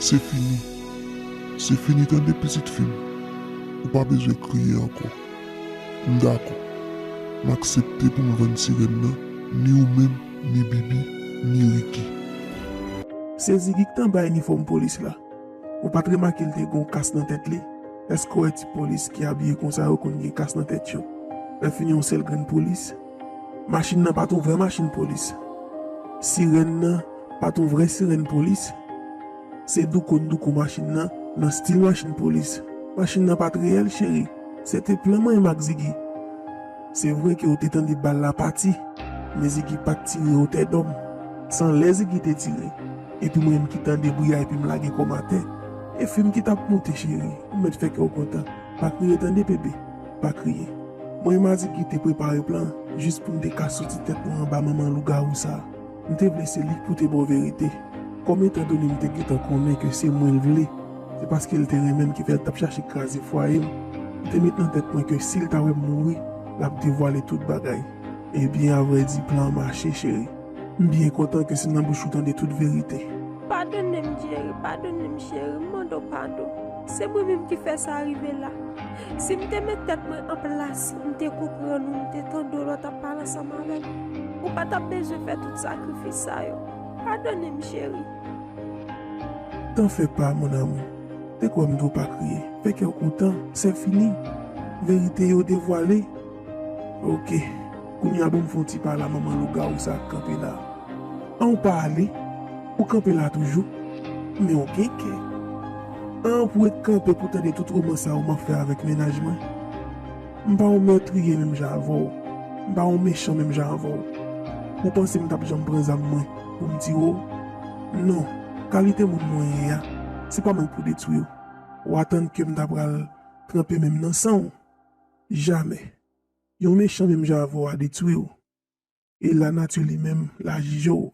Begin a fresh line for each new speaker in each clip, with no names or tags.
Se fini. Se fini tande pitit fi m. Ou pa bezwen kriye ankò. M dakò. M aksepte pou m vann sirèn nan, ni ou menm, ni Bibi, ni Riki.
Se Zigi ki t anba inifòm polis la. Ou pa t remake l te gen yon kas nan tèt li? Èske w wè ti polis ki abiye konsa yo konn gen kas nan tèt yo? Lèfini yon sèl grenn polis? Machin nan pa t yon vrè machin polis. Sirèn nan pa t yon vrè sirèn polis. Se doukoun doukou machin nan, nan stil machin polis. Machin nan pa t reyèl, cheri. Se te plan mwen menm ak Zigi. Se vre ke ou te tande bal la pati, men Zigi pa t tire otè dòm. San lè Zigi te tire, epi mwen menm ki tande bri a epi m lage kò m atè. E fim ki t ap moute, cheri. Ou mèt fè kè w kontan. Pa kriye tande, bebe. Pa kriye. Mwen e Madigi te prepare plan jis pou n te ka soti tèt nou anba manman lougawou sa. M te vle se li pou te ba w verite. Kòm etandone m te gentan konnen ke se mwen l vle, se paske l te renmen m ki fè l t ap chache kraze fwaye m, m te met nan tèt mwen ke si l ta wè m mouri, l ap devwale tout bagay. Ebyen avrèdi plan an mache cheri. M byen kontan ke se nan bouch ou tande tout verite. Padone m
Jerry, padone m cheri, m mande w padon. Se mwen menm ki fè sa rive la. Si m te met tèt mwen an plas ou, m te konprann ou, m te tande w lè w tap pale ansanm avè m, ou pa tap bezwen fè tout sakrifis sa yo. Padone m cheri.
T'en fais pas mon amour, te kwè m di w pa kriye, fè kè w kontan, sè fini. Verite yo devwale. Ok kounya bon fon ti pala manman lougarou sa kanpe la an ou pa ale ou kanpe la toujou men ou gen kè an pou ret kanpe pou tande tout romans sa ou man fè avèk mennaj mwen m pa yon meurtrier menm jan avèw m pa yon mechan menm jan avèw ou panse m tap janm pran zam mwen pou m tire w non kalite moun mwen ye a se pa mwen k pou detwi w wa tann kem ta pral tranpe menm nan sanw Jamè. Yon mechan menm jan avè w a detwi w. E lanati li menm la jije w.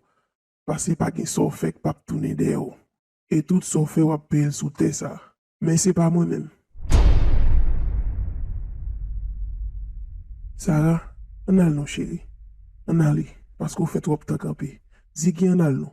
Pase pa gen sa w fè k p ap tounen dèyè w. E tout sa w fè w ap peye l sou tè sa a. Men se pa mwen menm. Sara, An n al non cheri. An n ale. Paske w fè twòp tan kanpe. Zigi, An n al non.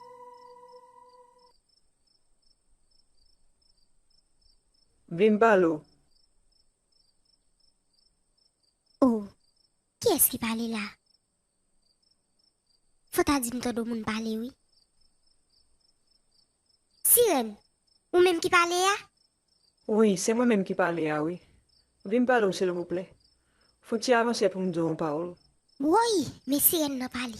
Vin pale ou.
Oh! Kiyès ki pale la? Fò ta di m tande w moun pale wi. Sirèn, Ou menm ki pale a? Wi, se
mwen menm ki pale a wi. Vin pale ou silvouplè. Fon ti avanse pou m di w yon pawòl. Woy! Men
sirèn nan pale.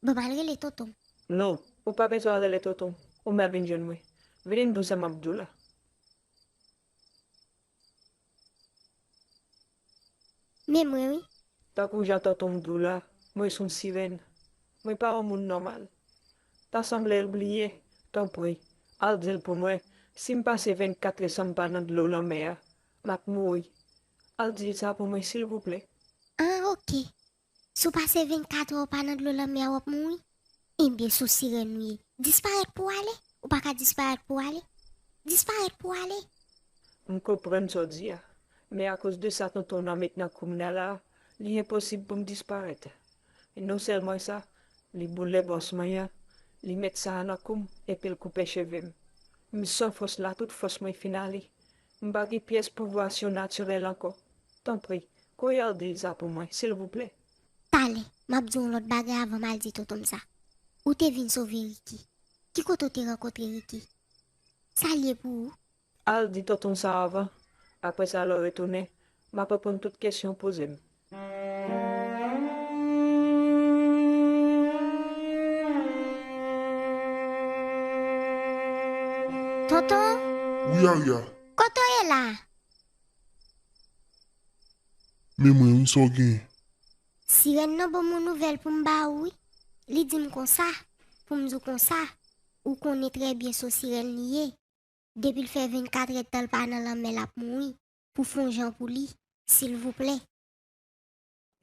Bon pral rele tontonm. Non, ou pa
bezwen rele tontonm. Ou mèt vin jwenn mwen. Vini n di w sa m ap di w la.
Men mwen wi. Tankou jan tontonm
di w la, mwen s on sirèn. Mwen pa on moun nòmal. Ta sanble l bliye. Tanpri, al di l pou mwen, si m pase 24 lè san m pa nan dlo lanmè a, m ap mouri. Al di l sa pou mwen silvouplè. An oke.
Si w pase 24 è w pa nan dlo lanmè a w ap mouri. Enben sou sirèn ou ye. Disparèt pou w ale. Ou pa ka disparèt pou w ale. Disparèt pou w ale. M
konprann sa w di a. Men akoz de sa tonton w nan met nan kou m nan la a, li enposib pou m disparèt. E non sèlman sa, li boule bòs mwen an, li met sa a nan kou m epi l koupe cheve m. M san fòs la tout fòs mwen fin ale. M pa gen pyès pouvwa surnaturel ankò. Tanpri, koyarde sa pou mwen, silvouplè. Tale,
map di w yon lòt bagay avan m al di tonton m sa. Ou te vin sove Ricky. Ki kote w te rankontre Ricky? Sa l ye pou ou? Al di tonton
sa avan. Apresa lè w retounen, map reponn tout kesyon w poze m.
Toto? Wi
Arya. Kote w ye la? Men mwen wi, sa w genyen?
Sirèn nan ban mwen nouvèl pou m ba ou wi. Li di m konsa, pou m di w konsa, ou konnen trè byen se w sirèn li ye. Depi l fè vennkatrèdtan l pa nan lanmè l ap mouri. Pou fon jan pou li silvouplè.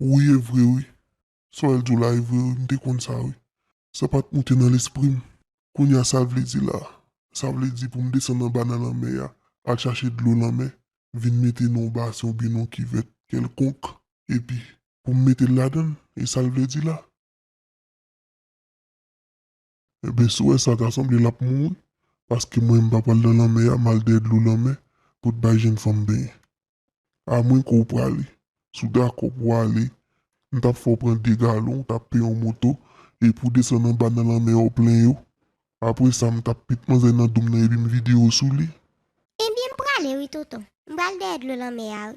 Wi evre wi sa wèl diw la evre wi mte konn sa wi sa pat moute nan lesprim kounya sal vle di la sa vle di poum desann anba nan lanmè ya al chache dlo lanmè vin mete nan yon basen oubyen nan yon kivèt kèlkonk epi poum metel ladann esal vle di la. Ebyen sou wè sa ta sanble lap mouri paske mwen mpa pral nan lanmè a mal dèyè dlo lanmè pou t bay jenn fanm benyen a mwen ke w prale si w dakò pou w ale m tap fè w pran 2 galon w tap peye yon moto epi w desann anba nan lanmè a w plen yo apre sa m tap met manzè nan do m nan epi m vide yo sou li. Ebyen m
prale wi tonton m pral dèyè dlo lanmè a wi.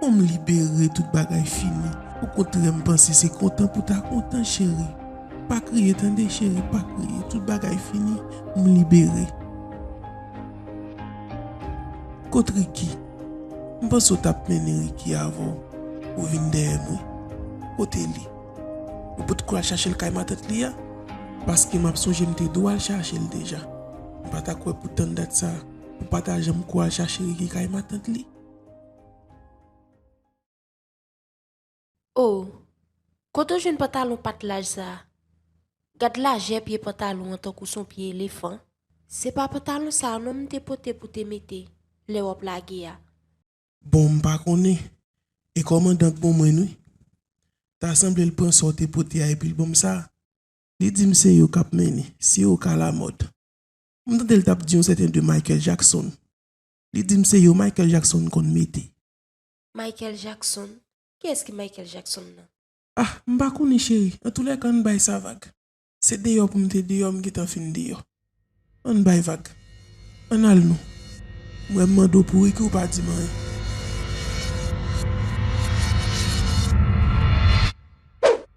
Pou m libere tout bagay fini. Ou kontrè m panse se kontan pou ta kontan cheri pa kriye tande cheri pa kriye tout bagay fini m libere. Kot Ricky m panse ou tap mennen Ricky avè w ou vin dèyè m wi kote li ou pot ko al chache l kay matant li a paske map sonje m te do al chache l deja m pata kwè pou tann dat sa ou pata janm ko al chache Ricky kay matant li.
Oh kote w jwenn pantalon pat laj sa gad lajè pye pantalon an tankou son pye elefan. Se pa pantalon sa non m te pote pou te mete lè wap lage a. Bon m
pa konnen e kòmandan k bon mwenn wi. Ta sanble l pran sa w te pote a epi l ban m sa. Li di m se yo kap mennen, se yo k alamòd. M tande l tap di yon sèten de Michael Jackson. Li dim se yo Michael Jackson konn mete. Michael
Jackson? Kiyès ki Michael Jackson nan? Ah m pa
konnen cheri, antoulèka ann bay sa vag. Se deyò pou m te deyò m gentan fin deyò. Ann bay vag. Ann al nou. M wè m mande w pou Ricky w pa di m anyen.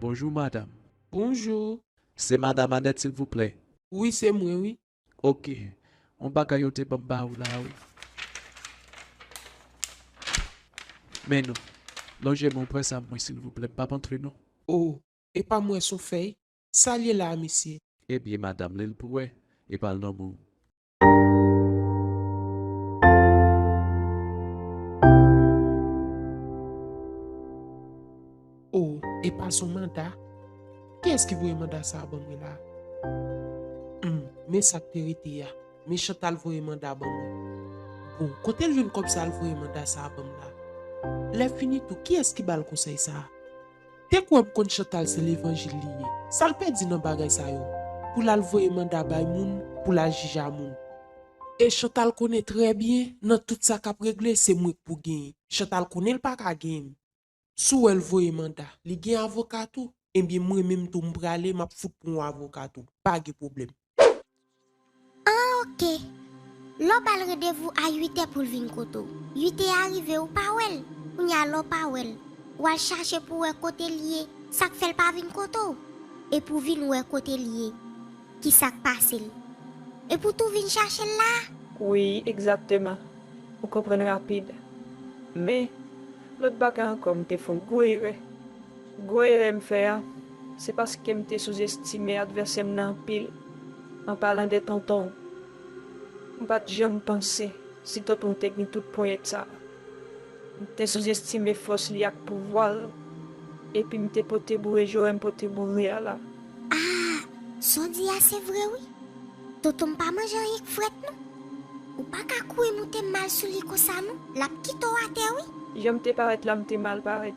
Bonjou madam. Bonjou.
Se madam
Anèt silvouplè? Wi se mwen wi.
Ok.
On bagay yo te banm ba ou la wi. Men non. Lonje men w pran sa pou mwen silvouplè. M pap antre non. Oh. Epa
m wè son fèy. Sal ye la a mesye? Ebyen madam
li l pou wè. Epa l nan men w.
Oh, e pa son manda? Ki es ki voye manda sa a ban mwen la? Humm, men sa k te rete ya. Men Chantal voye manda ban mwen. Bon, kote l jwenn kòb sa l voye manda sa a ban m la? Lè fini tou, ki es ki ba l konsèy sa a? Te kwèm konn chantal se levanjil li ye sal pèdi nan bagay sa yo pou lal voye manda bay moun pou lal jija moun. E chantal konnen trè byen nan tout sa kap regle se mwen k pou genyen chantal konnen l paka genyen m sou wè l voye manda li gen avoka tou ebyen mwen menm tou m prale map fout pran w avoka tou pa gen pwoblèm. An ok.
Lè w ba l rendevou a 8 è pou l vin kote w. 8 è a rive ou pa wè l. Kounye a lè w pa wè l, w al chache pou w wè kote l ye. Sa k fè l pa vin kote w? E pou w vin wè kote l ye. Ki sa k pase l? E pou tou vin chache l la a? Wi, egzakteman.
Ou konprann rapid. Men, lòt bagay ankò m te fè yon gwo erè. Gwo erè m fè a, se paske m te souzestime advèsè m nan anpil, an palan de Tonton. M pa t janm panse si Tonton te gen tout ponyèt sa a. M te souzestime fòs li ak pouvwa l, epi m te pote boure jòrè m pote boure a la. Ah!
Sa w di a se vre wi. Tonton pa manje anyen k frèt non. Ou pa ka kouri moute mal sou li konsa non, l ap kite w atè wi. Jan m te parèt la m te
mal parèt.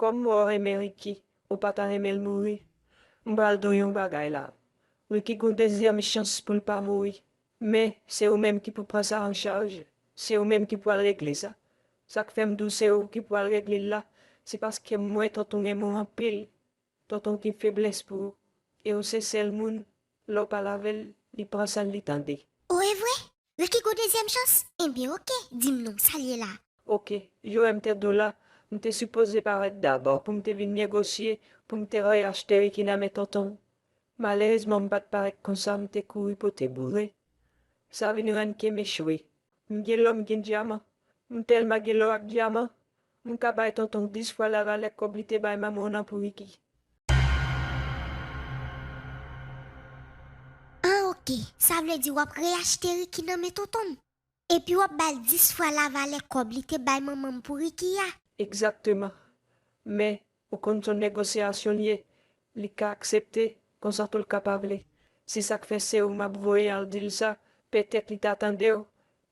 Kòm mwen renmen Ricky ou pa ta renmenl mouri m pral diw yon bagay la Ricky gon dezyèm chans poul pa mouri men se ou menm ki pou pran sa an chaj se ou menm ki pral regle sa sak fèm diw se ou ki pral reglel la se paskem wè tonton renmen w anpil tonton gen feblès pou ou e ou se sèl moun lè w pale avèl li pran san li tande. Ou evre?
Nan ki gwo dezyèm chans? Enben ok, di m non, sa l ye la? Ok, yo wè
m te dou la, m te sipoze parèt dabò pou m te vin negosye pou m te reyachte Ricky nan men tonton. Malerezman m pa t parèt konsa, m te kouri pote boure. Sa vin rann ke m echwe. M gen lò, m gen dyaman. M tèlman gen lò ak dyaman, M ka bay tontonw 10 fwa la valè kòb li te bay manmanw lan pou Ricky.
An ok, sa vle di wap re achte Ricky nan men tontonm? Epi wap bal 10 fwa la valè kòb li te bay manmanm pou Ricky a? Egzakteman.
Men, Ou konn son negosiyasyon l ye, li ka aksepte, konsa tou l ka pa vle. Si sa k fè se ou m ap voye al di l sa, petèt li ta tande w,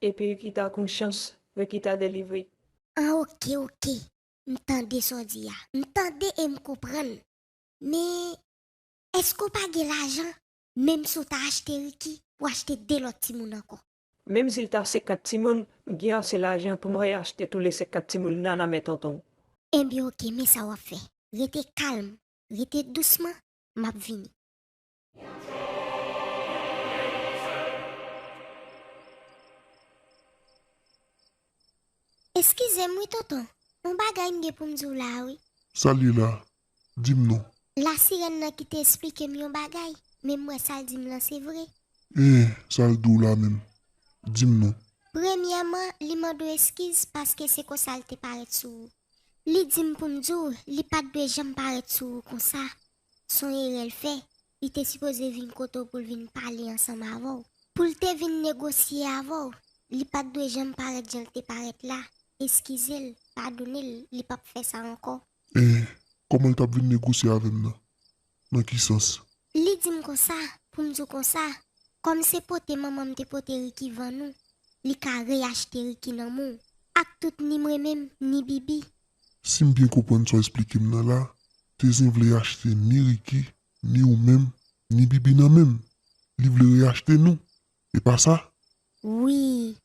epi w ki ta kon chans, w ki ta delivre. An oke,
oke, m tande sa w di a. M tande e m konprann. Men, èske w pa gen lajan, menm si w ta achte Riki, pou achte de lòt timoun ankò? Menm sil ta
50 timoun m gen ase lajan poum re achte tou le 50 timoun nan nan men tontonw. Enbyen ok
men sa wap fè. Rete kalm, rete dousman, map vini. Eskizem wi tonton, on bagay m gen poum diw la wi. Salut la,
dim non. La sirène nan kite
esplikem yon bagay men m wè sal dim lan se vre. Eeh sal
diw la menm dim non. Premyèman li
mandew eskiz paske se konsa li te parèt sou ou. Li dim poum diw li pat dwe janm parèt sou ou konsa son erèl fè li te sipoze vin kote w poul vin pale ansanm avèw poul te vin negosye avèw li pat dwe janm parèt janl te parèt la eskizel padonel li pap fè sa ankò. E kòman
l t ap vin negosye avè m nan? Nan ki sans? Li di m konsa,
pou m di w konsa, kòm se pote manman m te pote Riki vann ou, li ka reyachte Riki nan men w. Aktout ni mwen menm, ni Bibi. Si m byen
konprann sa w esplike m nan la, Tezin vle achte ni Riki, ni ou menm, ni Bibi nan men m. Li vle reyachte nou. E pa sa? Wi,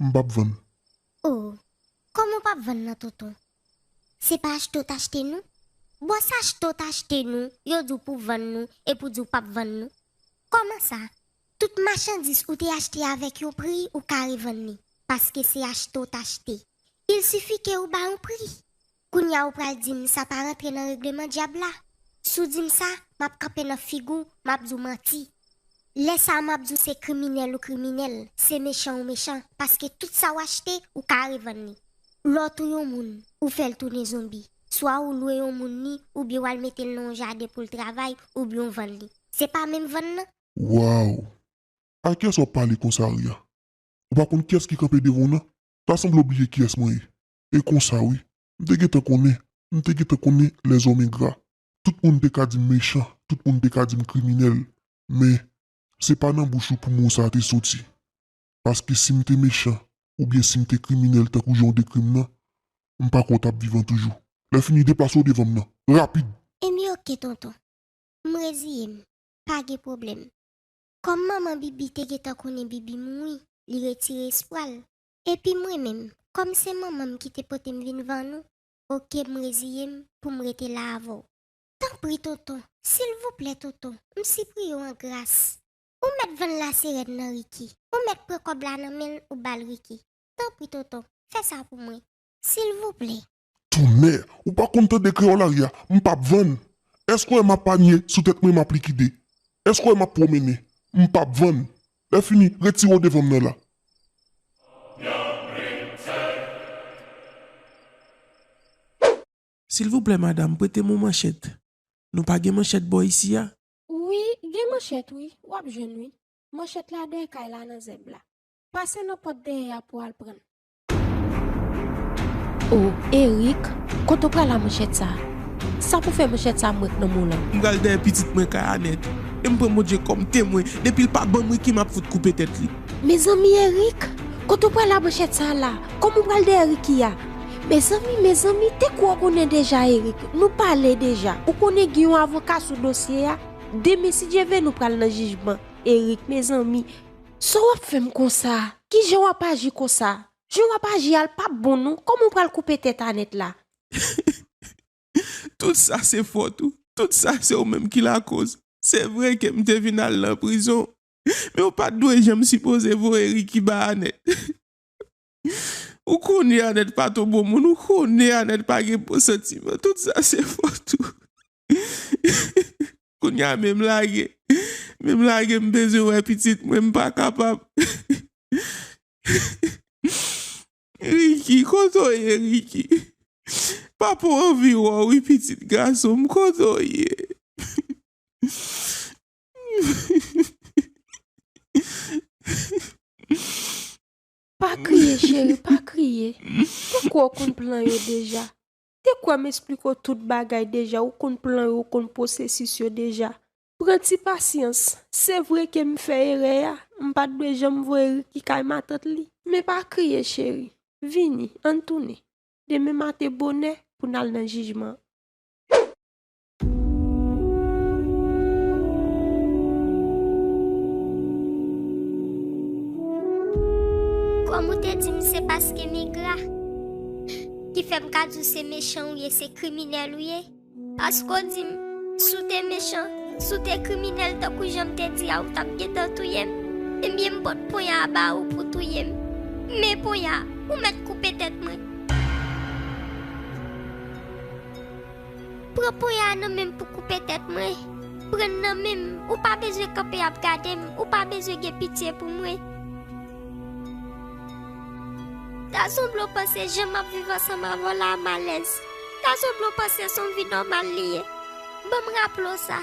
m pap vann. Oh
Kòman w pap vann nan tonton? Se pa achte w t achte nou? Bon s achte w t achte nou yo di w pou vann nou epi w di w pap vann nou? Kòman sa? Tout machandis ou te achte avèk yon pri ou ka revann li paske se achte w t achte. Il sifi ke ou ba yon pri. Kounya ou pral dim sa pa rantre nan regleman dyab la? Si w dim sa, m ap kanpe nan figi w, m ap di w manti. Lè sa a m ap di w se kriminèl ou kriminèl, se mechan ou mechan, paske tout sa w achte, ou ka revann li. Lè w touye yon moun, ou fè l tounen zonbi. Swa ou lwe yon moun li, oubyen w al mete l nan yon jaden pou l travay, oubyen w vann li. Se pa menm vann nan? Waww!
A kiyès w ap pale konsa Arya? Ou pa konn kiyès ki kanpe devan w nan? Ta sanble w bliye kiyès mwen ye? E konsa wi. M te gentan konnen. M te gentan konnen lèzòm engra. Tout moun te ka di m mechan, tout moun te ka di m kriminèl. Men, se pa nan bouch ou pou mo sa a te soti. Paske si m te mechan, oubyen si m te kriminèl tankou jan w dekri m nan, m pa kwè w t ap vivan toujou. Lèfini, deplase w devan m nan! Rapid! Emi,
Ok tonton. M reziye
m.
Pa gen pwoblèm. Kòm manman Bibi te gentan konnen Bibi mouri, li retire espwa l. Epi mwen menm, kòm se manman m ki te pote m vin van ou, oke m reziye m pou m rete la avè w. Tanpri tonton, silvouplè tonton, m sipriye w an gras. Ou mèt vann laserèn nan Ricky, ou mèt pran kòb la nan men l ou ba l Ricky. Tanpri tonton, fè sa pou mwen. Silvouplè, Tonnè!
Ou pa konn tande kreyolarya! M p ap vann! Èske w wè m ap anye sou tèt mwen m ap likide? Èske w wè m ap pwomennen? M p ap vann! Lèfini, retire w devan m nan la!
Silvouplè madam, prete m yon manchèt. Nou pa gen manchèt bò isi a? Wi, gen
manchèt wi. W ap jwenn wi. Manchèt la dèyè kay la nan zèb la. Pase nan pòt dèyè a pou w al pran l. Oh Erick kote ou pral a manchèt sa? Sa pou fè manchèt sa mwen k nan mou lan? M pral dèyè pitit mwen
kay a nèt e m pran Bondye kòm temwen depi l pa banm Ricky map fout koupe tèt li. Mezanmi Erick
kote ou pral a manchèt sa la? Kòman ou pral dèyè Ricky a? Mezanmi mezanmi te kwè w konnen deja Erick nou pale deja ou konnen gen yon avoka sou dosye a demen si Dye vle nou pral nan jijman Erick mezanmi sa wap fè m konsa? Kijan wap aji konsa? Jan wap aji al pap bon non koman ou pral koupe tèt Anèt la?
Tout sa se fòt ou, tout sa se ou menm ki lakoz. Se vre ke m te vin al nan prizon, men ou pat dwe janm sipoze voye Ricky ba Anèt. Ou konnen Anèt pat on bon moun, ou konnen Anèt pa gen bon santiman, tout sa se fòt ou. Kounya menm lage menm lage m bezwen wè pitit mwen m pa kapab Ricky kote w ye Ricky papa w anvi wè w wi pitit gason m kote w ye
Pa kriye cheri pa kriye poko w konn plan yo deja Te kwè m esplike w tout bagay deja, ou konn plan yo, ou konn pwosesis yo deja. Pran ti pasyans. Se vre ke m fè erè a, m pa t dwe janm voye Ricky kay matant li. Men pa kriye cheri. Vini, ann tounen. Demen maten bonè, pou n al nan jijman an.
Kòm ou te di m se paske m engra Ki fè m ka di w se mechan ou ye, se kriminèl ou ye Paske w di m si w te mechan, si w te kriminèl tankou jan m te di a ou t ap gentan touye m Ebyen m pot ponya a ba ou pou w touye m Men ponya a, ou mèt koupe tèt mwen. Pran pwen a nan menm pou koupe tèt mwen, pran n nan menm, ou pa bezwen kanpe ap gade m, ou pa bezwen gen pitye pou mwen. Ta sanble w panse jan m ap viv ansanm avè w la malèz, ta sanble w panse s on vi nòmal li ye, ban m raple w sa.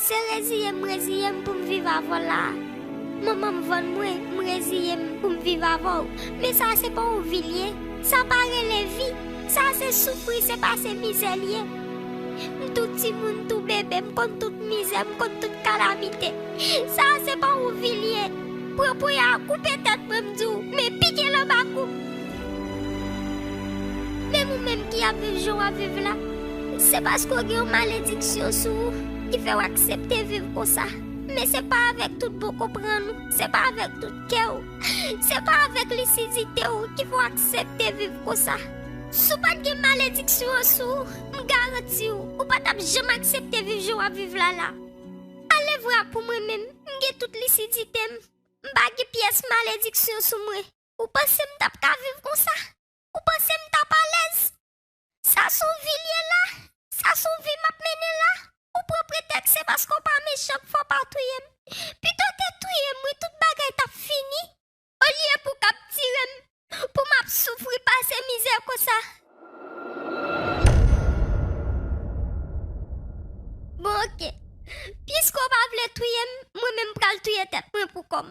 Se reziye m reziye m pou m viv avè w la a. Manman m vann mwen, m reziye m pou m viv avè w. Men sa a se pa yon vi l ye. Sa pa rele vi. Sa a se soufri, se pase mizè l ye. M tou timoun, tou bebe, m konn tout mizè, m konn tout kalamite. Sa a se pa yon vi l ye. Pran ponya a, koupe tèt mwen, m di w, men pike l anba kou m. Menm ou menm ki ap viv jan w ap viv la, se paske w gen yon malediksyon sou ou ki fè w aksepte viv konsa. Men se pa avèk tout bon konprann ou, se pa avèk tout kè ou, se pa avèk lisidite ou ki fè w aksepte viv konsa. Si w pa t gen malediksyon an sou ou, m garanti w, ou pa t ap janm aksepte viv jan w ap viv la la. Alevwa pou mwen menm, m gen tout lisidite m, m pa gen pyès malediksyon sou mwen. Ou panse m tap ka viv konsa? Ou panse m tap alèz? Sa s on vi l ye la? Sa s on vi m ap mennen la? Ou pran pretèks se paske w pa mechan k fè w pa touye m. Pito w te touye m wi tout bagay t ap fini. Olye pou w kaptire m pou m ap soufri pase mizè konsa. Bon ok, piske w pa vle touye m, mwen menm m pral touye tèt mwen pou kò m.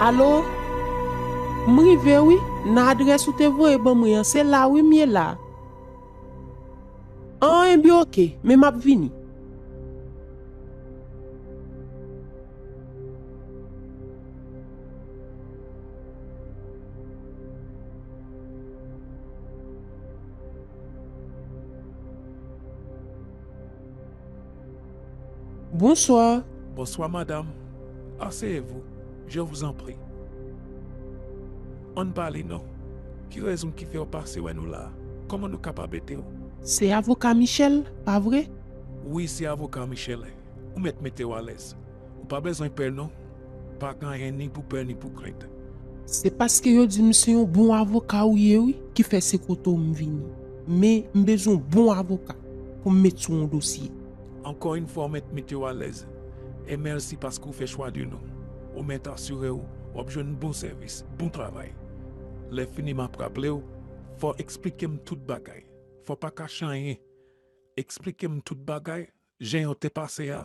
Alo? M rive wi, nan adrès ou te voye ban mwen an, se la wi m ye la. An enben ok, men m ap vini. Bonsoir. Bonsoir
madame. Asseyez vous, je vous en prie. Ann pale non. Ki rezon ki fèw pase wè nou la? Koman nou kapab edew? Se avoka
Michel, pa vre? Wi se
avoka Michel. Ou mèt metew alèz. Ou pa bezwen pè non. Pa gen anyen ni pou pè ni pou krent. Se paske
yo di m se yon bon avoka ou ye wi ki fè se kote w m vini. Men, m bezwen yon bon avoka pou m met sou yon dosye. Ankò yn fwa
w mèt mete w alèz. E mèsi paske w fè chwa de nou. Ou mèt asire w w ap jwenn bon sèvis, bon travay. Lè fini m ap raple w, fò w eksplike m tout bagay. Fò w pa kache anyen. Eksplike m tout bagay, jan yo te pase a,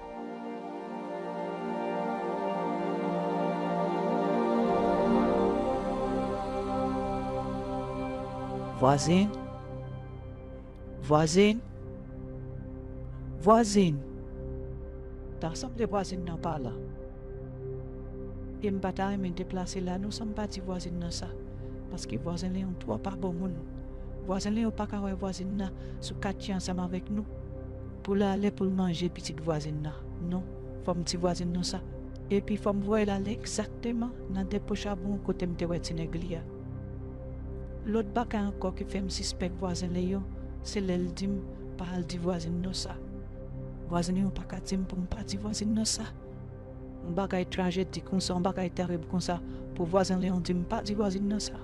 Vwazin Vwazin Vwazin Ta sanble vwazin nan pa la e m pa ta renmen deplase la non san m pa di vwazin nan sa paske vwazen Leon twò pa bon moun. Vwazen Leon pa ka wè vwazin nan sou katye ansanm avèk nou. Pou l ale pou l manje pitit vwazin nan. Non, fò m di vwazin non sa. Epi fò m voye l ale egzakteman nan depo chabon kote m te wè ti nèg li a. Lòt bagay ankò ki fè m sispèk vwazin Leyon, se lè l di m pa al di vwazin non sa. Vwazin Leyon pa ka di m pou m pa di vwazin non sa. Yon bagay trajedi konsa, yon bagay terib konsa, pou vwazin Leyon di m pa di vwazin non sa.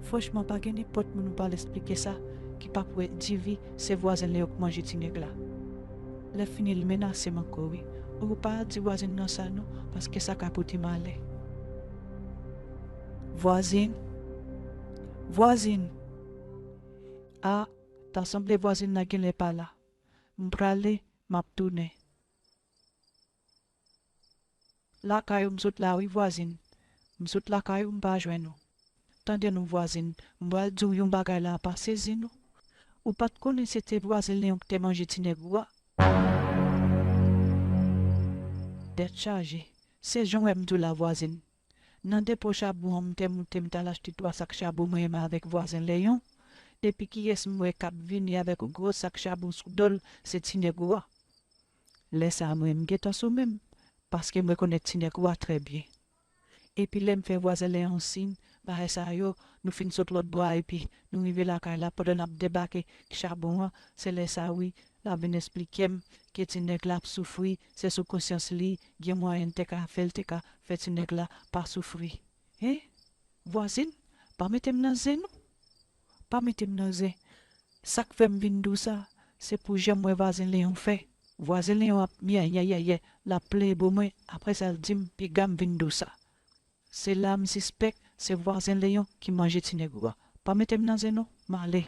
Franchman, pa gen nenpòt moun ou pa al esplike sa ki pap wè DV Se vwazen li yo k manje ti nèg la. Lè fini li menasem ankò wi oh ou pa al di vwazin nan sa non paske sa ka pote malè. Vwazin Vwazin Ah ta sanble vwazin nan genlè pa la. M prale map tounen. Lakay ou m sot la wi vwazin. M sot lakay ou m pa jwenn ou. Tande non vwazin, m pral di w yon bagay la pa sezi non. Ou pa t konnen se te vwazin Leon k te manje ti nèg ou a? Tèt chaje, se jan w wè m di w la vwazin. Nan depo chabon an m te moute m t al achte twa sak chabon mwen menm avèk vwazin Leon. Epi kiyès m wè k ap vini avèk gwo sak chabon sou do l se ti nèg ou a. Lè sa a mwen m gentan sou men m paske mwen konnen ti nèg ou a trè byen. Epi lè m fè vwazen lè an siy bagay sa yo nou fin sot lòt bò a epi nou rive lakay la pandan n ap debake k chabon an se lè sa wi l ap vin esplike m ke ti nèg la ap soufri se sou konsyans li gen mwayen l te ka fè l te ka fè ti nèg la pa soufri. Hein vwazin pa mete m nan zen non. pa mete m nan zen. Sa k fè m vin dou sa, se pou jan m wè vazen Leon fè. Vwazen Leon ap myèyèyèyè, l ap plenyen bo mwen, apre sa l di m piga m vin dou sa. Se la m sispèk se vwazen Leon ki manje ti negro a. Pa mete m nan zen non, m ale.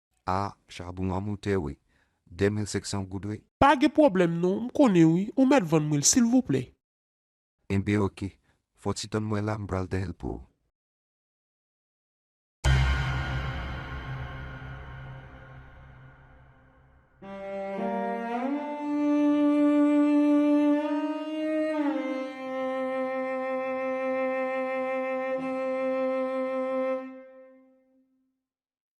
Ah chabon
an moute wi 2500 goud wi. Pa gen pwoblèm non
m konnen wi ou mèt vann mwen l silvouplè. Enben
ok fò ti tann mwen la m pral dèyè l pou ou.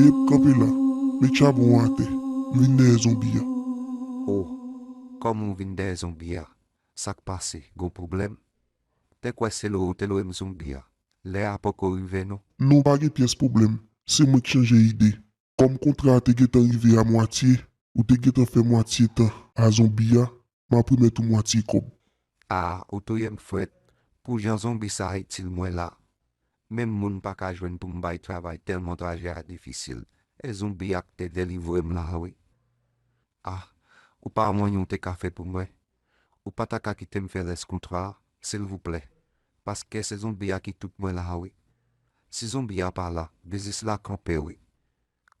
Eep kanpe la Met chabon an atè M vin dèyè zonbi an. Oh
kòman w vin dèyè zonbi a sak pase gon pwoblèm te kwè se lou ou te lwe m zonbi a lè a poko rive non. Non pa gen pyès pwoblèm
se mwen k chanje ide kòm kontra a te gentan rive a mwatye ou te gentan fè mwatye tan a zonbi a map remèt ou mwatye kòb. Ah ou
touyem frèt pou jan zonbi sa itil mwen la menm moun paka jwenn poum bay travay tèlman trajè a difisil e zonbi ak te delivrem la wi ah ou pa wè anyen ou te ka fè pou mwen ou pa ta ka kitem fè rès kontra a silvouplè paske se zonbi a ki tout mwen la wi si zonbi a pa la biznis la kanpe wi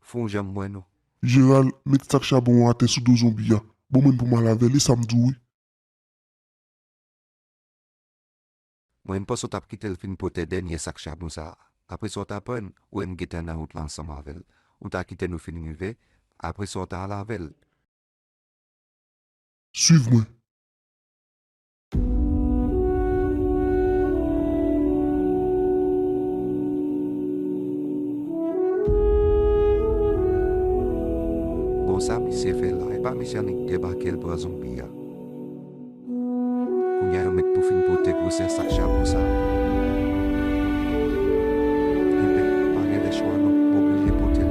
Fon janm mwen nou. Jeral met
sak chabon an atè sou do zonbi a bon menm pou mal avèl e sam diw wi.
Mwen m panse w tap kitel fin pote dènyè sak chabon sa apre sa w ta prann ou em gentan nan wout la ansanm avèl ou ta kite nou fin rive apre sa w ta al avèl.
Swiv mwen.
Bon sa misye fè la epa misye annik debakel pran zonbi a kounya yo met pou fin pote gwosè sak chapo sa enben pa gen lè chwa non m oblije potel.